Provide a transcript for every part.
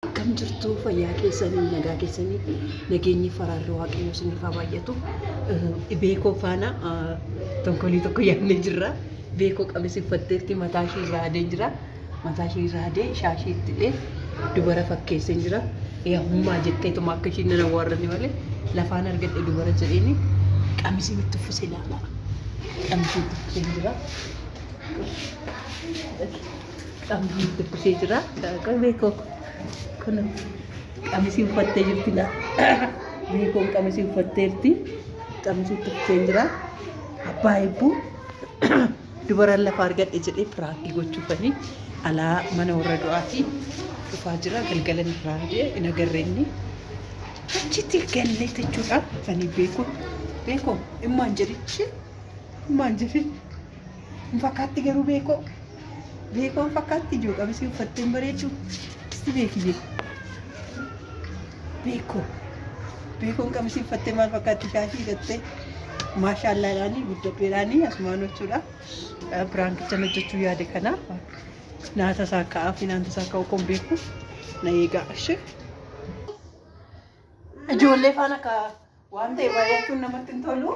Akkam jirtu fayyaa keessanii nagaa keessanii fi nageenyi faraarri waaqayyoo isiniif haa baay'atu. Dhibee koo faana tonkolii tokko yaadnee jirra. Dhibee koo qamis uffatteetti mataa ishee irraa adeen jira. Mataa ishee irraa adee shaashii itti dhee dubara fakkeesseen jira. Yaa hummaa jetteetuma akka ishiin nan awwaarrani malee lafaan argadhe dubara jedheeni qamisiin itti uffisee laata. Qamisiin itti uffiseen jira. Qabdii dubbisee jira. Qoy beekoo. Kun qamisii uffattee jirti laa. Beekoon qamisii uffatteerti. Qamisii uffattee jira. Abbaa eebbuu. Dubaran lafa argadhe jedhee piraakii gochuufanii alaa mana warra du'aatii dhufaa jira. Galgala irraa hidhee hin agarre inni. Achitti gallee jechuudhaan ani beekoo. Beekoo immaan jedhichi. Immaan jedhi. Hin fakkaatti garuu beekoo. Beekoo hin fakkaatti ijoo qabisii uffattee hin bareeddu. Isti beeki beeku. Beekoo. Beekoon qabisii uffattee maal fakkaatti shaashii hidhattee. Maashaallaadhaanii guddadheedhaanii asumaan jechuudha. Biraankicha hojjechuu yaade kana naata isaa ka'aa fi naanta isaa ka'uu kun beeku na eegaa ishee. Ijoollee faana ka waan ta'e baay'achuun namatti hin tolu.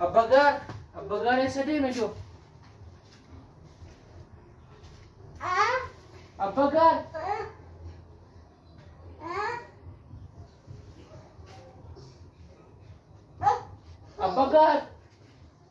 Abba gaar, abba gaar eessa deeme joo? Abba gaar. Abba gaar.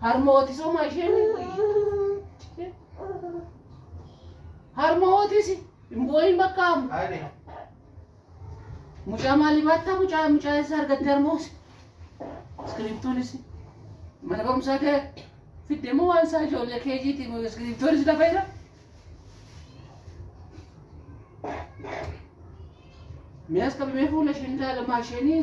Harmooti soma isheen harmootis booyin bakka hamu. Ani. Mucaa maalii baattaa mucaa mucaa isa argattee harmoos. Iskiriiptoonis mana barumsaa kee fiddee moo waan isaa ijoollee kee jiiti iskiriiptoonis lafa jira. Miyaas qabamee fuula isheen ilaalamaa isheenii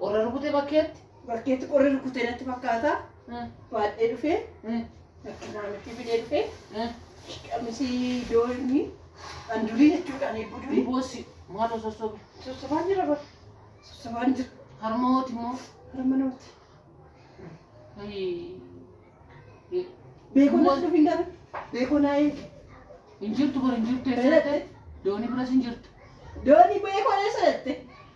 Qorra rukute bakkeetti. Bakkeetti qorri rukute natti fakkaata. Mm, Baadhee dhufee mm, bakki maamiltii fidee dhufee mm. qamisii doorni an durii jechuudha ani eebbu durii Boossi maaloo sossobe. sossobaan jira bar sossobaan jira Harma hooti immoo. harma namatti Ayii. beekoo Boos- natti dhufin gara beekoo naa eegi Hin jirtu bar hin jirtu eessa Eessa dhatte? Doonii biras hin jirtu. doonii beekoo eessa dhatte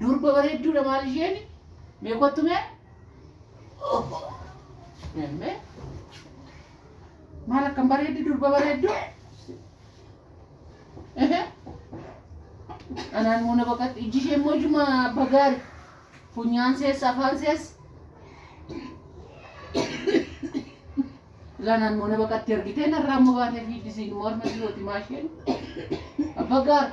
Durba bareedduudha maal isheen mee kottu mee mee maal akkam bareeddi durba bareeddu anaan moo na baqatti ijji ishee immoo ijuma abba gaari funyaan seessa afaan seessa lanaan moo na baqatti argitee narraa immoo baatee fiiddisiin morma dhiyooti maasheen abba gaari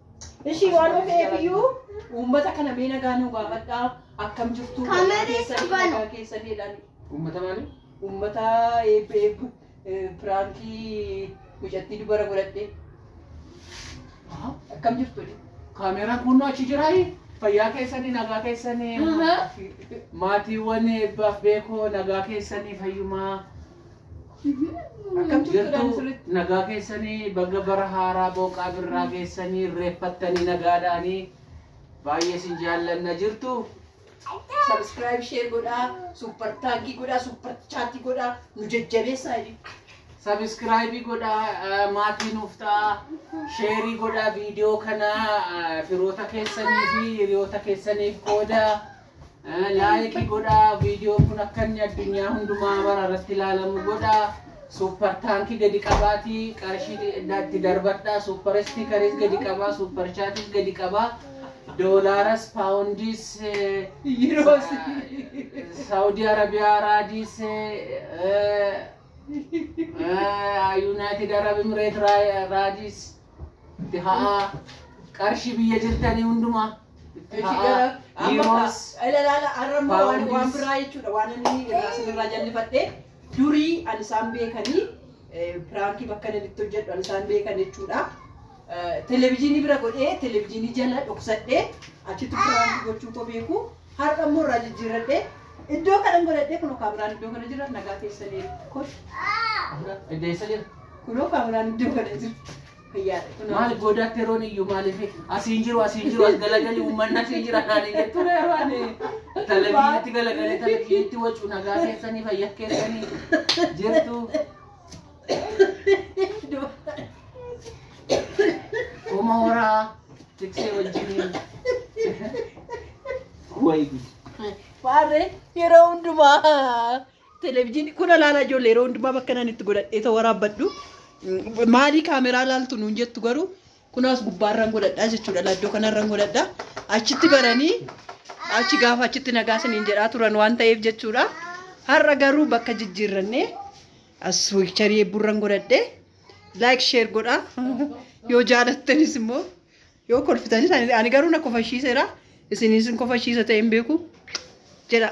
Ishii waan of eebiyyuu uummata kana mee nagaa nuu gaafadhaa akkam jirtu Kamerri keessanii qaban. nagaa keessanii jedhaan Uummata maali? uummata eebbi eebbu eh, piraankii mucattii dubara godhadhe Aha. akkam jirtu jedhe. Kaameeraan kunnoo achi jiraayi. Fayyaa keessanii nagaa keessanii Aha. maatiiwwan eebbaaf beekoo nagaa keessanii fayyumaa Akkam jirtu Jirtu asirratti? nagaa keessanii baga bara haaraa booqaa birraa keessanii reeffattanii nagaadhaanii baay'ee isin jaallanna jirtu. Subscribe share godhaa, super thank godhaa, super chat godhaa, nu jajjabeessaa jedhi. Sabiskiraayibii godhaa eh, maatii nuuf ta'a. Sheerii godhaa viidiyoo kana eh, firoota keessanii fi hiriyoota keessaniif qoodaa. Laayikii godhaa viidiyoon kun akka inni addunyaa hundumaa mara irratti ilaalamu godhaa. Suuppar taankii gadi qabaatii qarshii itti darbadhaa. Suuppar istiikariis gadi qabaa. Suuppar chaatiis gadi qabaa. Doolaaras, paawundiis, Yiroos. Saawudii Arabiyaa, Raadiis, Yuunaayitid Arab Imireet, Raadiis. Itti ha'aa. Qarshii biyya jirtanii hundumaa. Itti Itti ha'aa. gara- amma Yiroos. ka- ila- ilaala, har'a immoo waan- Paawundis. waan biraa jechuudha waan inni irraa sinirraa jallifadhe durii an isaan beekanii eh, piraankii bakka inni itti hojjedhu an isaan beekan jechuudha Eh, televezyiinii bira godhee televezyiinii jala dhoksadhee achitti piraankii gochuu koo beeku har'a immoo irraa jijjiirradhee iddoo kanan godhadhee kun kaameraan iddoo kana jira nagaa keessanii kosh Deessa jira. Kunoo kaameraan iddoo kana jirti. Fayyaadha. Kunoo. Maaliif boodaatti yeroon iyyuu maaliif asiin jiru asiin jiru as galagali uummanni asiin jira naanii jettu dha yeroo ani televiziyiitti galagalee televiziyiitti wacu nagaa keessanii fayyaa keessanii jirtu. Uma horaa tiksee wajjiniin. Wayi. Waarree yeroo hundumaa. Televijiinii kun ilaalaa ijoollee yeroo hundumaa bakka nan itti godhadhee ta'u waraabbadhu. Maalii kaameraa ilaaltu nuun jettu garuu kunaas gubbaarraan godhadhaa jechuudha. Laddoo kanarraan godhadhaa. Achitti baranii achi gaafa achitti nagaa isiniin jedhaa turan waan ta'eef jechuudha. Har'a garuu bakka jijjiirrannee as wiikcharii eebburraan godhadhee like share godhaa. Yoo jaalattanis immoo Yoo kolfitanis ani ani garuu na kofashiiseera. Isin isin kofashiisa ta'e hin beeku. Jedha.